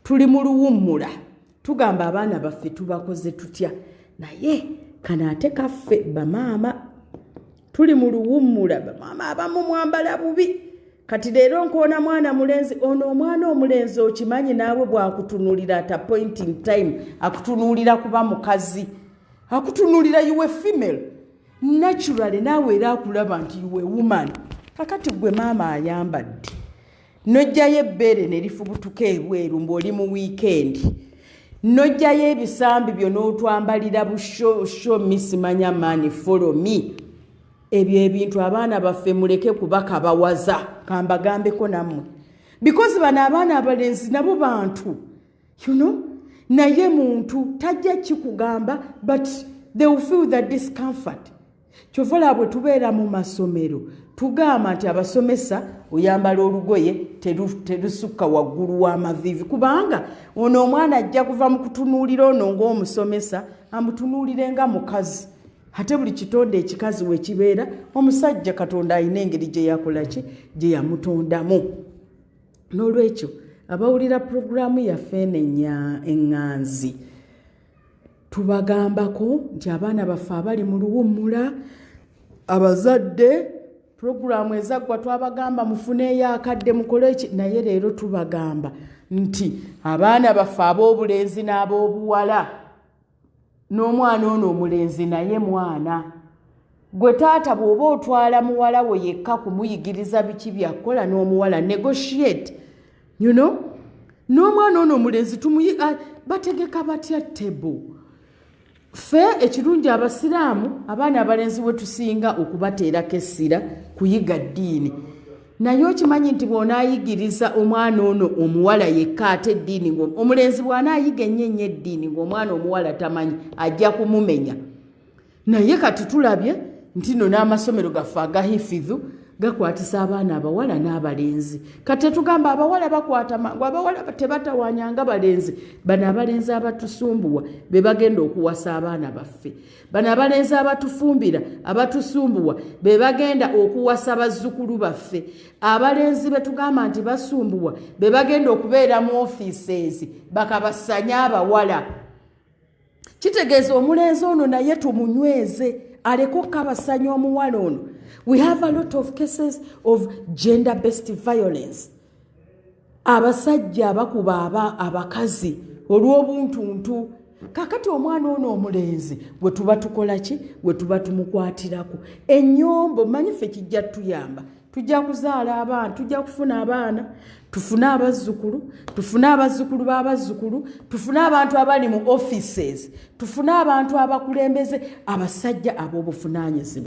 tuli mu luwummula tugamba abaana baffe tubakoze tutya naye kano ate kaffe bamaama tuli mu luwummula bamaama abamu mwambala bubi kati leero nkoona mwana mulenzi ono omwana omulenzi okimanyi naawe bwakutunulira at appointing time akutunulira kuba mukazi akutunulira uwe female naturally naawe era akulaba nti uwe woman kakati gwe maama ayambadde n'oggyayo ebbeere ne lifubutuka ebweru ng'oli mu wiikendi n'oggyayo ebisambi byo n'otwambalira busho misimanya mani folomi ebyo ebintu abaana baffe muleke kubakabawaza kambagambeko nammwe bikozi bano abaana abalenzi nabo bantu you know naye muntu tajja kikugamba but they will feel the discomfort kyova olaba bwe tubeera mu masomero tugamba nti abasomesa oyambala olugoye terusukka waggulu w'amaviivi kubanga ono omwana ajja kuva mu kutunuulira ono ng'omusomesa amutunuulire nga mukazi ate buli kitonde ekikazi we kibeera omusajja katonda alina engeri gye yakola ki gye yamutondamu n'olwekyo abawulira puroguraamu yaffe eno eŋŋanzi tubagambako nti abaana baffe abali mu luwummula abazadde pulogulaamu ezaggwa twabagamba mufuneeyo akadde mukole eki naye leero tubagamba nti abaana baffe ab'obulenzi n'ab'obuwala n'omwana ono omulenzi naye mwana gwe taata bw'oba otwala muwala wo yekka kumuyigiriza biki byakukola n'omuwala negotiate you know n'omwana ono omulenzi tumuyi ah, bategeka batya tebo ffe ekirungi abasiraamu abaana abalenzi we tusinga okubateerako essira kuyiga ddiini naye okimanyi nti bw'onaayigiriza omwana ono omuwala yekka ate eddiini omulenzi bw'anaayiga ennyo ennyo eddiini ng'omwana omuwala tamanyi ajja kumumenya naye kati tulabye ntino n'amasomero gaffe agahifidhu gakwatisa abaana abawala n'abalenzi kati tetugamba abawala bakwata mangu abawala tebatawanya nga balenzi bano abalenzi abatusumbuwa be bagenda okuwasa abaana baffe bano abalenzi abatufumbira abatusumbuwa be bagenda okuwasa bazzukulu baffe abalenzi be tugamba nti basumbuwa be bagenda okubeera mu ofiiseezi bakabasanye abawala kitegeeza omulenzi ono naye tumunyweze aleke okukabasanya omuwala ono we have a lot of cases of gender based violence abasajja abakuba aba abakazi olw'obuntuntu kakati omwana ono omulenzi we tuba tukola ki we tuba tumukwatirako enyombo manyi fe kijja tuyamba tujja kuzaala abaana tujja kufuna abaana tufune abazzukulu tufune abazzukulu b'abazzukulu tufune abantu abali mu offices tufune abantu abakulembeze abasajja ab'obuvunaanyizibwa